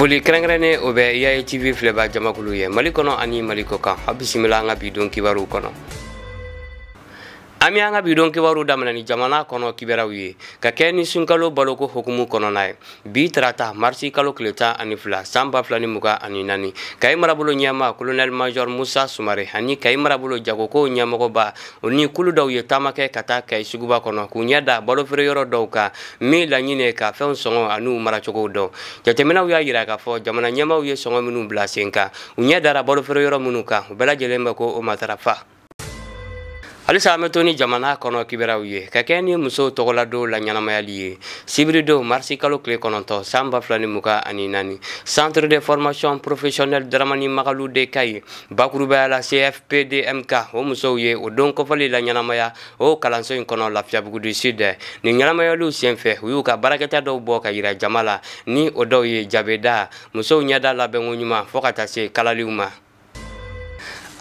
foli kɛrɛnkɛrɛnnen o bɛ yaye tv filɛba jamakulu ye mali kɔnɔ ani mali kɔkan a bisimila an ka bi don kibaruw kɔnɔ an bɛ an ka bi don kibaruw daminɛ ni jamana kɔnɔ kibaruyaw ye ka kɛ ni sunkalo baloko hukumu kɔnɔna ye bi tarata marisi kalo tile tan ani fila san ba fila ni mugan ani naani kayi marabolo ɲɛmaa kolonɛli majɔr musa sumare ani kayi marabolo jagokow ɲɛmɔgɔba o ni kulu dɔw ye taama kɛ ka taa kayi suguba kɔnɔ k'u ɲɛ da balofeere yɔrɔ dɔw kan min laɲini ka fɛnw sɔngɔ an'u maracogow dɔn jateminɛw y'a yira k'a fɔ jamana ɲɛmaaw ye sɔngɔ minnu bila sen kan u ɲɛ dara balofeere yɔrɔ minnu kan u bɛɛ lajɛlen bɛ k'o matarafa halisa an bɛ to ni jamana kɔnɔ kibaruyaw ye ka kɛɲɛ ni musow tɔgɔladon laɲɛnamayali ye sibiridon marisi kalo tile kɔnɔntɔn san ba fila ni mugan ani naani centre de formation professionnelle daramani magalu de kayes bakurubaya la cfpdmk o musow ye o don kɔfɔli laɲɛnamaya o kalanso in kɔnɔ lafiyabugu du sud nin ɲɛnamayaliw senfɛ u y'u ka baarakɛta dɔw bɔ ka yira jama la ni o dɔw ye jabida musow ɲɛda labɛnko ɲuman fo ka taa se kalaliw ma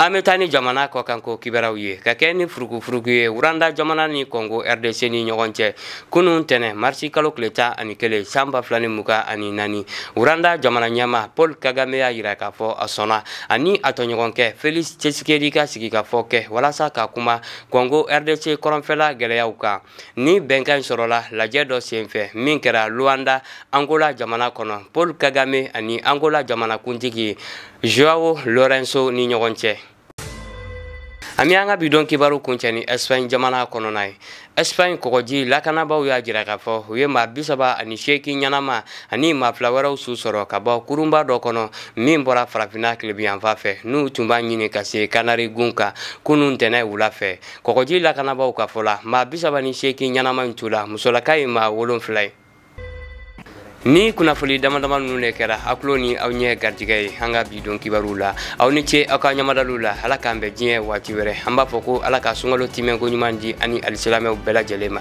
an bɛ taa ni jamana kɔkanko kibaruyaw ye ka kɛ ni furukufuruku ye wuranda jamana ni kɔngo rdc ni ɲɔgɔn cɛ kunun tɛnɛ marisi kalo tile tan ani kelen san ba fila ni mugan ani naani wuranda jamana ɲɛmaa paul kagame y'a yira k'a fɔ a sɔnna ani a tɔɲɔgɔnkɛ felix tshisekedi ka sigikafɔ kɛ walasa ka kuma kɔngo rdc kɔrɔnfɛla gwɛlɛyaw kan nin bɛnkan in sɔrɔla lajɛ dɔ senfɛ min kɛra luanda angola jamana kɔnɔ paul kagame ani angola jamanakuntigi joao lourenço ni ɲɔgɔn cɛ an bɛ an ka bi don kibaru kuncɛ ni ɛsipaɲi jamana kɔnɔna ye ɛsipaɲi kɔgɔji lakanabaaw y'a jira k'a fɔ u ye maa bi saba ani seeki ɲɛnama ani maa fila wɛrɛw su sɔrɔ ka bɔ kurunba dɔ kɔnɔ min bɔra farafinna tilebinyanfan fɛ n'u tun b'a ɲini ka se kanari gun kan kunun ntɛnɛ wula fɛ kɔgɔji lakanabaaw ka fɔ la maa bi saba ni seeki ɲɛnama in tu la musolaka ye maa wolonfila ye nin kunnafoli damadama ninnu de kɛra aw kulo ni aw ɲɛ garijɛgɛ ye an ka bi don kibaruw la aw ni ce aw ka ɲamadaliw la ala k'an bɛn diɲɛ waati wɛrɛ an b'a fɔ ko ala ka sunkalo tiimɛko ɲuman di an ni alisilamɛw bɛɛ lajɛlen ma